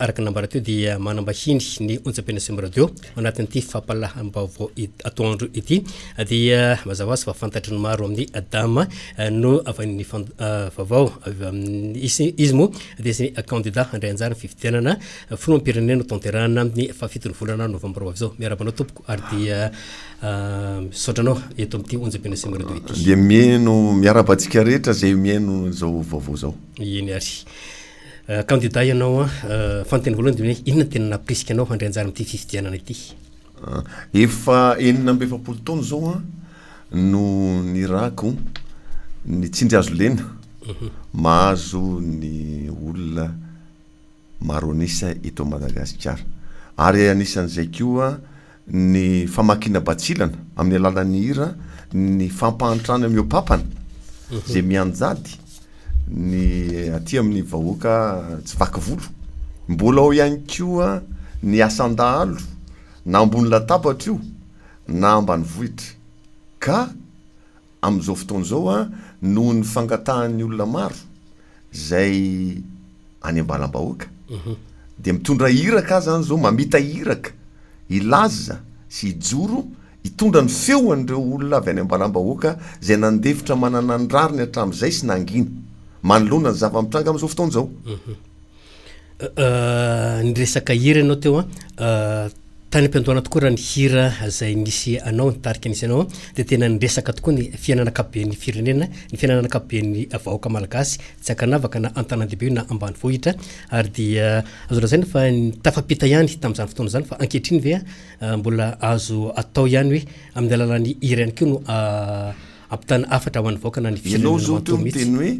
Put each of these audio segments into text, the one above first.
Araka ny nambara teo dia manambahiny ny onjam-pena Sum Radio ao anatin'ity fampalahambaovao atoandro ity dia mazava sy fa fantatry ny maro amin'ny Adama no avy amin'ny vaovao avy amin'ny izy moa dia sy kandida handray anjara fifidianana filoham-pirenena tanterahana amin'ny fahafitony volana novambra avy izao. Miarahaba anao tompoko ary dia misaotra anao eto amin'ity onjam-pena Sum Radio ity. Dia mihaino miarahaba antsika rehetra izay mihaino izao vaovao izao. Eny ary. Kandida ianao an, fanontaniana voalohany dia hoe inona no tena nampirisika anao handray anjara amin'ity fifidianana ity? Efa enina amby efapolo taona izao an no nirahako ny tsindry hazo lena mahazo ny olona maro an'isa eto Madagasikara, ary anisan'izay koa ny famakiana batsilana amin'ny alalan'ny hira, ny fampahantrana mihoa-pampana izay mianjady ny aty amin'ny vahoaka tsy vaky volo. Mbola ao ihany koa ny asan-dahalo na ambony latabatra io na ambanivohitra ka Amin'izao fotoana izao, noho ny fangatahan'ny olona maro izay any am-balam-bahoaka, dia mitondra iraka aza any izao, mamita iraka hilaza sy hijoro hitondra ny feon'ireo olona avy any am-balam-bahoaka izay nandefitra manana ny rariny hatramin'izay sy nangina manoloana ny zava-mitranga amin'izao fotoana izao. Niresaka hira ianao teo an, tany am-piandohana tokoa raha ny hira izay nisy anao, ny tarika nisy anao dia tena niresaka tokoa ny fiainana ankapoben'ny firenena, ny fiainana ankapoben'ny vahoaka malagasy, tsy ankanavaka na an-tanàn-dehibe io na ambanivohitra ary dia azo lazaina fa tafampita ihany tamin'izany fotoana izany fa ankehitriny ve mbola azo atao ihany hoe amin'ny alalan'ny hira ihany koa no ampitana hafatra ho an'ny vahoaka na ny firenena manontolo mihitsy. Ianao izao teo niteny hoe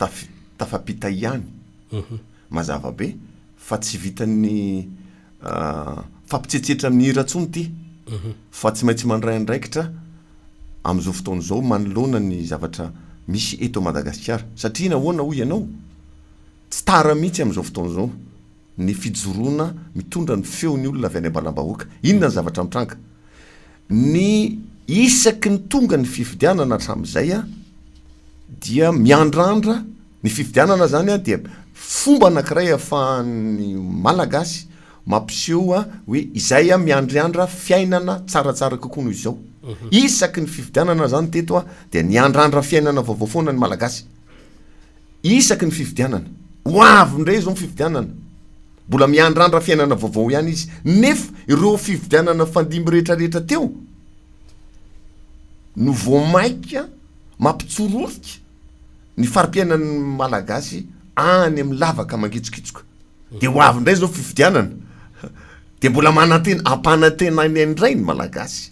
tafita. Tafapita ihany. Mazava be fa tsy vitan'ny fampitsetsetra amin'ny hira intsony ity fa tsy maintsy mandray andraikitra amin'izao fotoana izao manoloana ny zavatra misy eto Madagasikara satria nahoana hoy ianao? Tsy tara mihitsy amin'izao fotoana izao. ny fijoroana mitondra ny feon'ny olona avy any am-balam-bahoaka. Inona ny zavatra mitranga? Ny isaky ny tonga ny fifidianana hatramin'izay dia miandrandra, ny fifidianana izany dia fomba anankiray ahafahan'ny Malagasy mampiseho hoe izahay miandriandra fiainana tsaratsara kokoa noho izao. Isaky ny fifidianana izany teto dia niandrandra fiainana vaovao foana ny Malagasy. Isaky ny fifidianana. Ho avy indray izao ny fifidianana. Mbola miandrandra fiainana vaovao ihany izy. Nefa ireo fifidianana nifandimby rehetrarehetra teo no vao mainka mampitsororika ny fari-piainan'ny Malagasy any amin'ny lavaka mangitsokitsoka. Dia ho avy indray izao fifidianana. Dia mbola manantena, ampanantenaina indray ny Malagasy.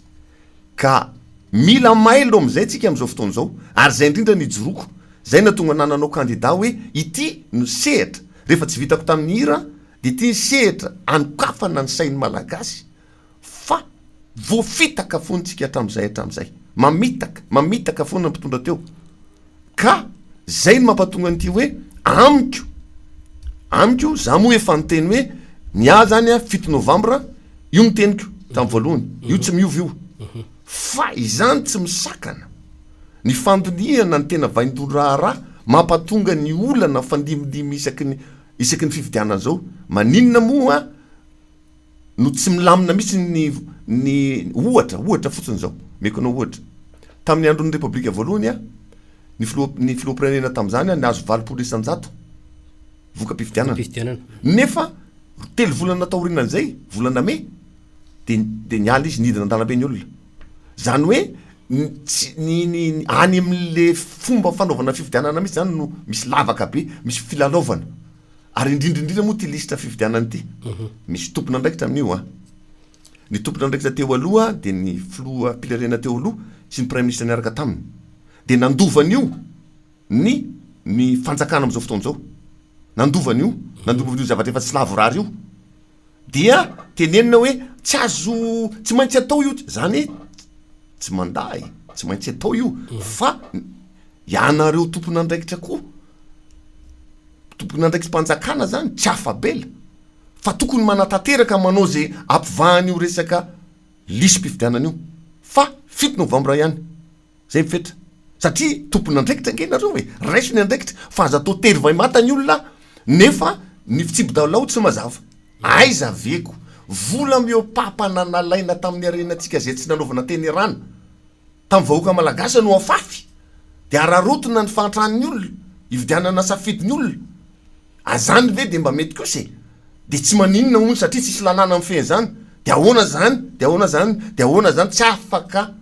Ka mila mailo amin'izay tsika amin'izao fotoana izao, ary izay indrindra no ijoroako, izay nahatonga anah nanao kandida hoe ity no sehatra rehefa tsy vitako tamin'ny hira dia ity ny sehatra anokafana ny sain'ny Malagasy fa voafitaka foana tsika hatramin'izay hatramin'izay. Mamitaka, mamitaka foana ny mpitondra teo. Ka zay no mampatonga an'ity hoe amiko amiko za moa efa niteny hoe ny ahy zany a fito novambra io ny teniko tam voalohany io tsy miova io fa izany tsy misakana ny fandinihana ny tena vaindohan raharaha mampatonga ny olana fandimidimy isaky ny isaky ny fifidianana zao maninona moa no tsy milamina mihitsy ny ny ohatra ohatra fotsiny izao omeko anao ohatra tamin'ny andron'ny repoblika voalohany a ny filoha ny filoham-pirenena tamin'izany a nahazo valopolo isan-jato voka-pifidianana nefa telo volana taorianan'izay volana mey de de niala izy nidina an-dalambe ny olona zany hoe ny tsy ny ny any amin'le fomba fanaovana fifidianana mihitsy zany no misy lavaka be misy filalaovana Ary indrindra indrindra moa ity lisitra fifidianana ity, misy tompon'andraikitra amin'io an. Ny tompon'andraikitra teo aloha dia ny filoham-pirenena teo aloha sy ny praiminisitra niaraka taminy. Dia nandova an'io ny ny fanjakana amin'izao fotoana izao. Nandova an'io, nandova an'io zavatra efa tsy lavorary io. Dia tenenina hoe tsy azo tsy maintsy atao io zany hoe tsy manda e tsy maintsy atao io fa ianareo tompon'andraikitra koa tompon'andraikitmpanjakana zany tsy afabela fa tokony manatanteraka manao ze ampivahan'io resaka lisy mpifidianana io fa fito novambra ihany Zay ny fetra. Satria tompon'andraikitra ange nareo e! Raiso ny andraikitra fa aza atao tery vay mata ny olona nefa ny fitsipi-dalao tsy mazava. Aiza ve ko! Vola mihoa-papana nalaina tamin'ny harenantsika zay tsy nanaovana tenerana tamin'ny vahoaka malagasy no afafy de araraotina ny fahantran'ny olona hividianana safidin'ny olona. Azany ve de mba mety kosa e! De tsy maninona hono satria tsisy lalàna mifehy zany. De ahoana zany? De ahoana zany? De ahoana zany? Tsy afaka.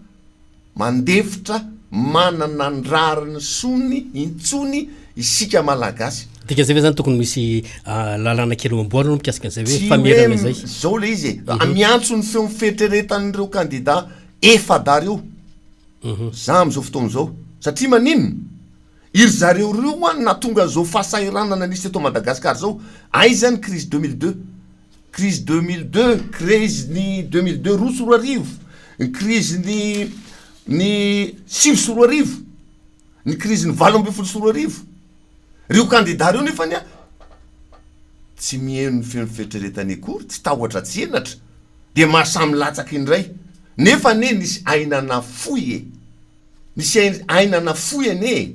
mandefitra manana ny rariny sony intsony isika malagasy. Dika zay ve zany tokony misy lalana kely ho amboarina mikasika an'izay hoe famerana izay? Tsy hoe zao le izy e, mhm. miantso ny feon'ny fieritreretan'ireo kandida efada reo. Mhm. Za am'izao fotoana izao, satria maninona? Iry zareo reo an natonga zao fahasahiranana nisy eto Madagasikara zao, aiza ny crise deux mille deux? Krizy deux mille deux, Krizy ny deux mille deux roa sy roa arivo, ny krizy ny ny sivy sy roa arivo, ny krizy ny valo ambin'ny folo sy roa arivo. Reo kandida reo nefa anie tsy miheno ny feon'ny fieritreretany akory, tsy tahotra tsy henatra dia maha samy latsaka indray. Nefa anie nisy aina nafoy e! Nisy aina nafoy anie e!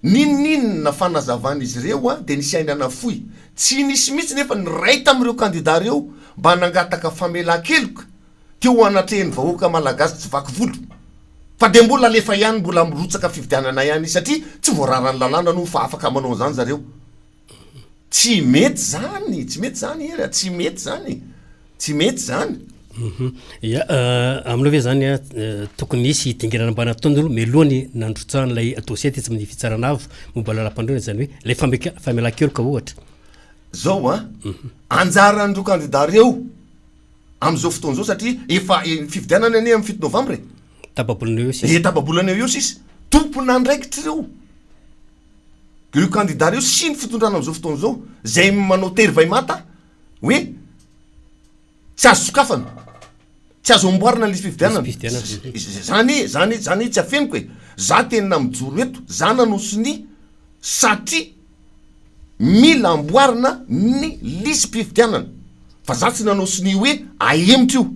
N'inon'inona fanazavan'izy ireo dia nisy aina nafoy. Tsy nisy mihitsy nefa ny iray tamin'ireo kandidà ireo mba nangataka famelan-keloka teo anatrehan'ny vahoaka malagasy tsy vaky volo. Fa dia mbola alefa ihany, mbola mirotsaka fifidianana ihany izy satria tsy voararan'ny lalàna aloha fa afaka manao an'izany zareo. Tsy mety zany, tsy mety zany Hery a, tsy mety zany, tsy mety zany. Ya, euh, aminao ve zany a euh, tokony hisy hidinganana mba nataony aloha mialohan'ny nandrotsahan'ilay dossier tetsy amin'ny fitsarana avo momba lalam-pandroana izany hoe ilay fameka- famelan-keloka ohatra. Zao a, mhm. anjaran'ireo kandida ireo amin'izao fotoana izao satria efa eh, fifidianana anie amin'ny fito novambra e. Tababolana eo sisa. E tababolana eo sisa. Tompon'andraikitra ireo. Ireo kandida ireo sy ny fitondrana amin'izao fotoana izao izay manao tery vay manta hoe tsy azo sokafana, tsy azo amboarina ny lisi-pifidianana. Izany, izany, izany tsy afeniko e! Za tena mijoro eto, za nanao sonia satria mila amboarina ny lisi-pifidianana fa za tsy nanao sonia hoe ahemotra io.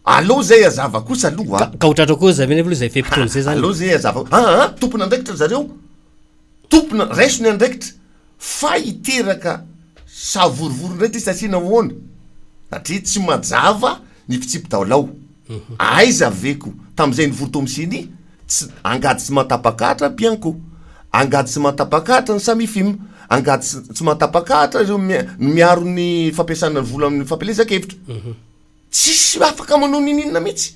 Allo zay azava kosa aloha a! Ka ho tratra koa zay mihitsy aloha zay fe-potoana zay zany e! Allo zay azava a! Aa! Tompon'andraikitra zareo! Tompona, raiso ny andraikitra fa hiteraka savorovoro indray ty satria nahoana? Satria tsy majava ny fitsipi-daolao! Aiza ve ko tamin'izay nivory tao amin'ny ceni tsy angady sy manta-pakahatra bianco! Angady sy manta-pakahatra ny Samifim! Angady sy tsy manta-pakahatra ireo miaro ny fampiasana ny vola amin'ny fampielezan-kevitra! tsisy afaka manao ninininona mihitsy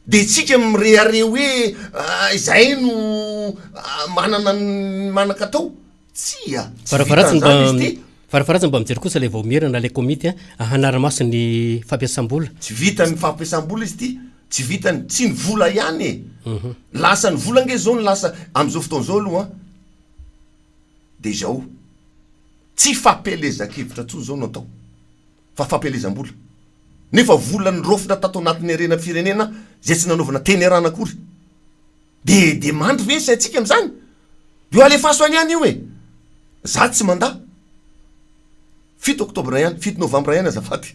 de tsika mirehareha hoe ah, izahay no ah, manana ny manan-katao tsia tsy Varavaratsa mba vitan'izany izy ty Varavaratsa mba mijery kosa ilay vaomiera na ilay komity a hanara-maso ny fampiasam-bola. tsy vitany ny fampiasam-bola izy ity tsy vitany tsy ny vola ihany e lasa ny vola ange zao ny lasa am'izao fotoana izao aloha an de izao tsy fampielezan-kevitra intsony izao no atao fa fampielezam-bola. Nefa vola niraofina tato anatin'ny harena firenena izay tsy nanaovana teny arahana akory. Dia dia mandry ve ny saintsika amin'izany? Dia alefaso any ihany io e! Za tsy mandà. Fito oktobra ihany, fito novambra ihany azafady.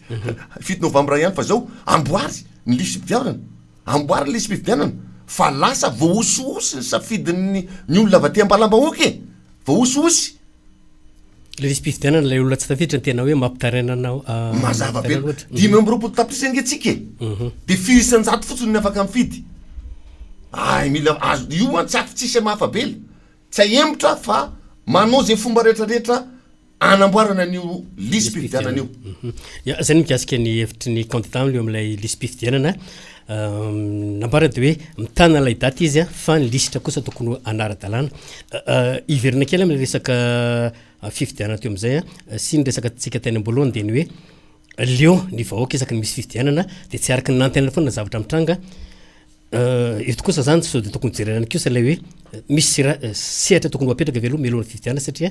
Fito novambra ihany fa izao amboary ny lisi-pifidianana. Amboary ny lisi-pifidianana fa lasa voahosihosy ny safidin'ny ny olona avy aty am-balam-bahoaka e! Voahosihosy. Ilay visim-pifidianana ilay olona tsy tafiditra ny tena hoe mampitaraina anao. Ah, Mazava be. Dimy amby roapolo tapitrisa ange tsika e. Mhm. Dia firy isan-jato fotsiny ny afaka mifidy. Ay mila azo io an tsy ato tsisy amafabela. Tsy ahemotra fa manao izay fomba rehetra rehetra anamboarana an'io lisy pifidianana io. Mhm. Ya, izay ny mikasika ny hevitry ny candidat eo amin'ilay lisy pifidianana. Nambarany dia hoe mitana ilay daty izy fa ny lisitra kosa tokony ho hanara-dalàna. Hiverina kely amin'ny resaka fifidianana teo amin'izay sy ny resaka tsika teny am-boalohany dia ny hoe leo ny vahoaka isaky ny misy fifidianana dia tsy araka ny nantenaina foana ny zavatra mitranga. Eto kosa izany sao dia tokony hojerena ihany kosa ilay hoe misy sehatra tokony ho apetraka ve aloha mialohan'ny fifidianana satria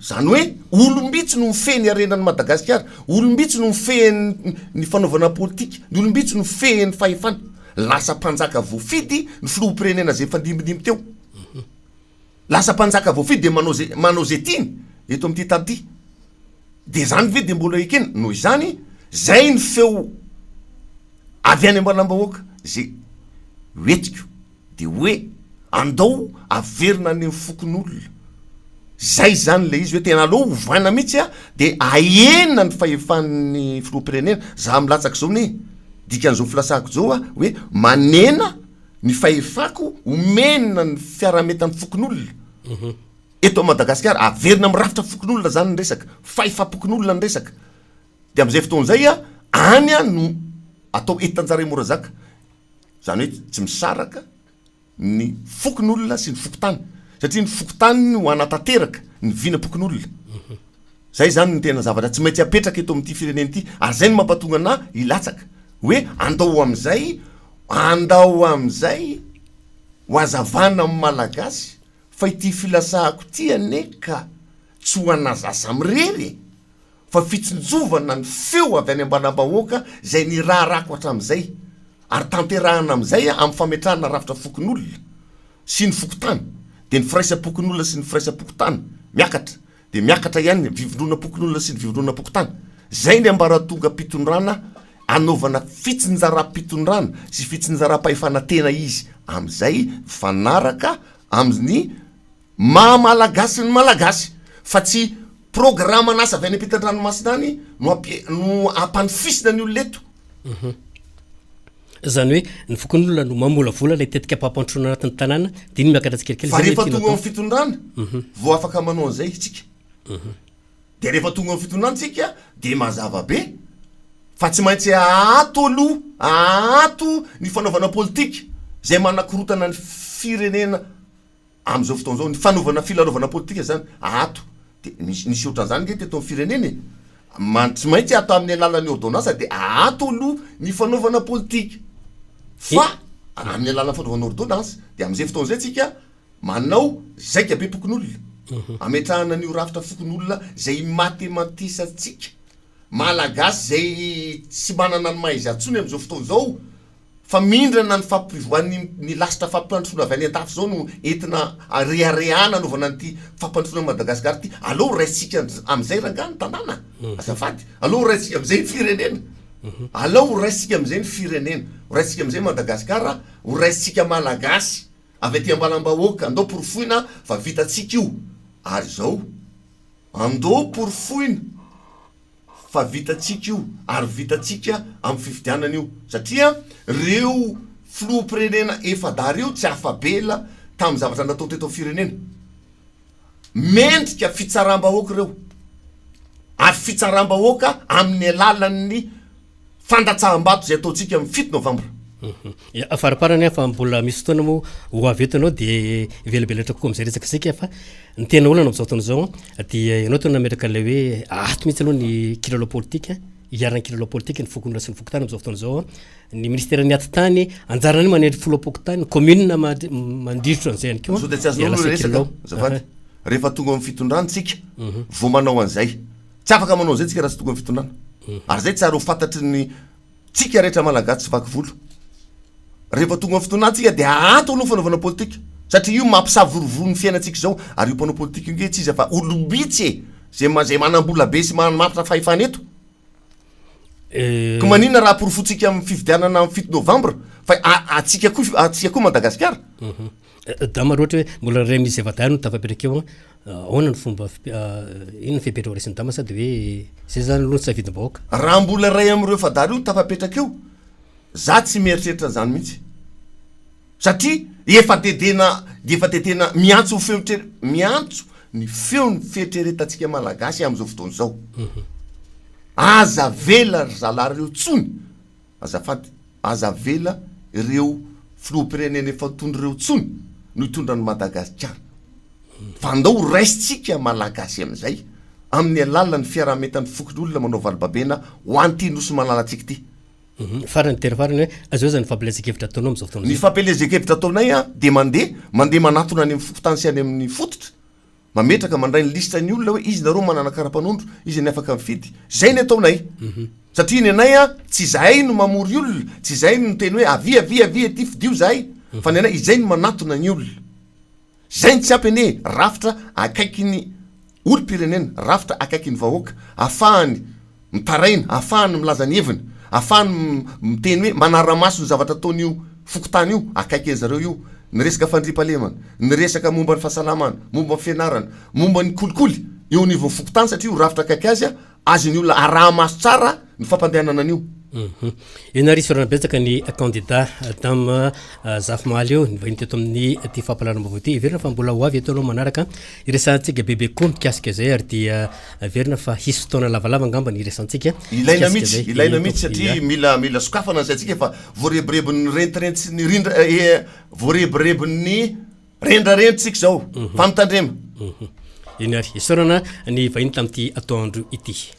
Izany hoe olom-bitsy no mifehy ny harenan'i Madagasikara, olom-bitsy no mifehy ny fanaovana politika, ny olom-bitsy no mifehy ny fahefana. Lasa mpanjaka voafidy ny filoham-pirenena izay nifandimbidimby teo. Lasa mpanjaka voafidy dia manao izay manao izay tiany eto amin'ity tany ity. Dia izany ve dia mbola ekena? Noho izany, izay ny feo avy any ambalam-bahoaka izay ho entiko. Dia hoe andao averina any amin'ny fokonolona. Izay izany ilay izy hoe tena aleo ovaina mihitsy a, dia ahena ny fahefan'ny filoham-pirenena. Izaho milatsaka izao anie e! Dikan'izao filatsahako izao aho hoe manena ny fahefako omena ny fiaraha-mientan'ny fokonolona eto Madagasikara. Averina amin'ny rafitra fokonolona izany ny resaka, fahefam-pokonolona ny resaka. Dia amin'izay fotoana izay a, any no atao entan-dRaimorazaka. Izany hoe tsy misaraka ny fokonolona sy ny fokontany. Satria ny fokontany no hanatanteraka ny vinam-pokonolona. Izay izany no tena zavatra tsy maintsy apetraka eto amin'ity firenena ity. Ary izay no mampatonga anà hilatsaka. Hoe andao amin'izay, andao amin'izay ho hazavana amin'ny Malagasy fa ity filasahako ity anie ka tsy ho anà zaza mirery e! fa fitsinjovana ny feo avy any am-balam-bahoaka izay niraharako hatramin'izay ary tanterahina amin'izay amin'ny fametrahana rafitra fokonolona sy ny fokontany dia ny firaisam-pokonolona sy ny firaisam-pokontany miakatra dia miakatra ihany ny vivondronam-pokonolona sy ny vivondronam-pokontany izay ny ambaratongam-pitondrana anaovana fitsinjaram-pitondrana sy fitsinjaram-pahefana tena izy amin'izay mifanaraka amin'ny Maha Malagasy ny Malagasy fa tsy programan'asa avy any ampitan-dranomasina any no ampi no ampanofisina ny olona eto. Uhum. Zany hoe ny fokonolona no mamolavola ilay tetika ampampandrosoana anatin'ny tanàna dia iny miakatra tsikelikely Fa rehefa tonga eo amin'ny fitondrana uhum. vao afaka manao an'izay itsika. Uhum. Dia rehefa tonga eo amin'ny fitondrana tsika dia mazava be fa tsy maintsy aato aloha, aato ny fanaovana politika izay manakorotana ny firenena. Amin'izao fotoana izao ny fanaovana filarovana politika izany ato dia misy nisy ohatran'izany ange teto amin'ny firenena e! man tsy maintsy atao amin'ny alalan'ny ôrdônansa dia ato aloha ny fanaovana politika fa amin'ny alalan'ny fanaovana ôrdônansa dia amin'izay fotoana izay tsika manao zaika be pokonolona ametrahana an'io rafitra fokonolona izay imatematisantsika malagasy izay tsy manana ny maha izy azy intsony amin'izao fotoana izao Famindrana ny fampivoan'ny ny lasitra fampandrosoana avy any an-dafy izao no entina reharehana anaovana an'ity fampandrosoana an'i Madagasikara ity. Aleo ho raisitsika amin'izay rangahy ny tanàna azafady. Aleo ho raisitsika amin'izay ny firenena. Aleo ho raisitsika amin'izay ny firenena. Ho raisitsika amin'izay Madagasikara, ho raisitsika Malagasy avy aty am-balam-bahoaka. Andao porofoina fa vitantsika io. Ary izao, andao porofoina. fa vitantsika io ary vitantsika amin'ny fifidianana io satria reo filoham-pirenena efa-dahy reo tsy afa-bela tamin'ny zavatra natao teto amin'ny firenena mendrika fitsaram-bahoaka ireo ary fitsaram-bahoaka amin'ny alalan'ny fandatsaham-bato izay ataontsika amin'ny fito novambra. Ia, faraparany aho fa mbola misy fotoana moa ho avy eto ianao dia hivelabelatra kokoa amin'izay resaka isika fa ny tena olana amin'izao fotoana izao dia ianao teo nametraka ilay hoe ato mihitsy aloha ny kilalao politika hiharan'ny kilalao politika ny fokonona sy ny fokontany amin'izao fotoana izao ny ministera ny atitany anjarana ny manendry folo am-pokontany ny commune mandrirotra an'izay ihany koa dia lasa kilalao rehefa tonga amin'ny fitondrany tsika mhm. vao manao an'izay Tsy afaka manao izay tsika raha tsy tokony fitondrana. Ary izay tsara ho fantatry ny tsika rehetra malagasy tsy vaky volo. Rehefa tonga fitondrana tsika dia ahanto aloha fanaovana politika. Satria io mampisavorovoro ny fiainantsika izao. Ary io mpanao politika io nge tsy iza fa olom-bitsy e! Izay izay manam-bola be sy manamafitra fahefana eto. Ka maninona raha aporofointsika amin'ny fifidianana amin'ny fito novambra fa atsika koa atsika koa Madagasikara. Mhm. Dama roa ohatra hoe mbola ray misy zava-dahy no tafapetraka eo an, ahoana ny fomba inona ny fepetra ho resin'ny dama sa de hoe zay zany aloha ny safidim-bahoaka? Raha mbola ray amin'ireo efa-dahy reo no tafapetraka eo, za tsy mieritreritra an'zany mihitsy satria efa de tena de efa de tena miantso ny feo tre- miantso ny feo ny fieritreretantsika malagasy amin'izao fotoana izao, aza avela ry zalahy reo tsony, Azafady, aza avela ireo filoham-pirenena efa tony ireo intsony no hitondra an'i Madagasikara, fa andao ho raisintsika Malagasy amin'izay amin'ny alalan'ny fiaraha-mientan'ny fokonolona manao valobabena ho an'ity Nosy malalantsika ity. Farany, dera farany hoe, azao izany fampielezan-kevitra ataonao amin'izao fotoana izao. Ny fampielezan-kevitra ataonay dia mandeha, mandeha manatona any amin'ny fokontany sy any amin'ny fototra, mametraka mandray ny liste ny olona hoe izy nareo manana karapanondro izy ny afaka mifidy zay ny ataonay mhm. satria ny anay a tsy izahay no mamory olona tsy izay no teny hoe avy avy avy aty fidio zahay mhm. fa ny anay izay no manatona ny olona zay ny tsy ampy anie rafitra akaiky ny olom-pirenena rafitra akaiky ny vahoaka afahany mitaraina, ahafahany milaza ny heviny, ahafahany miteny hoe manara-maso ny zavatra ataon'io fokontany io, akaiky an'i zareo io, ny resaka fandriampahalemana, ny resaka momba ny fahasalamana, momba ny fianarana, momba ny kolikoly eo anivon'ny fokontany satria io rafitra akaiky azy, azon'ny olona araha-maso tsara ny fampandehanana an'io. Ianarisa Orana Betsaka ny kandida Dame Zafimahaly io nivahiny teto amin'ity fampahalalam-baovao ity. Heverina fa mbola ho avy eto ianao manaraka hiresahantsika bebe kokoa mikasika izay ary dia Averina fa hisy fotoana lavalava angamba ny hiresantsika. Ilaina mihitsy, ilaina mihitsy satria mila mila sokafana ny saintsika fa voarebirebin'ny rentirentsiny rindra voarebirebin'ny rendrarentsika izao. Fa mitandrema. Eny ary isaorana ny vahiny tamin'ity atoandro ity.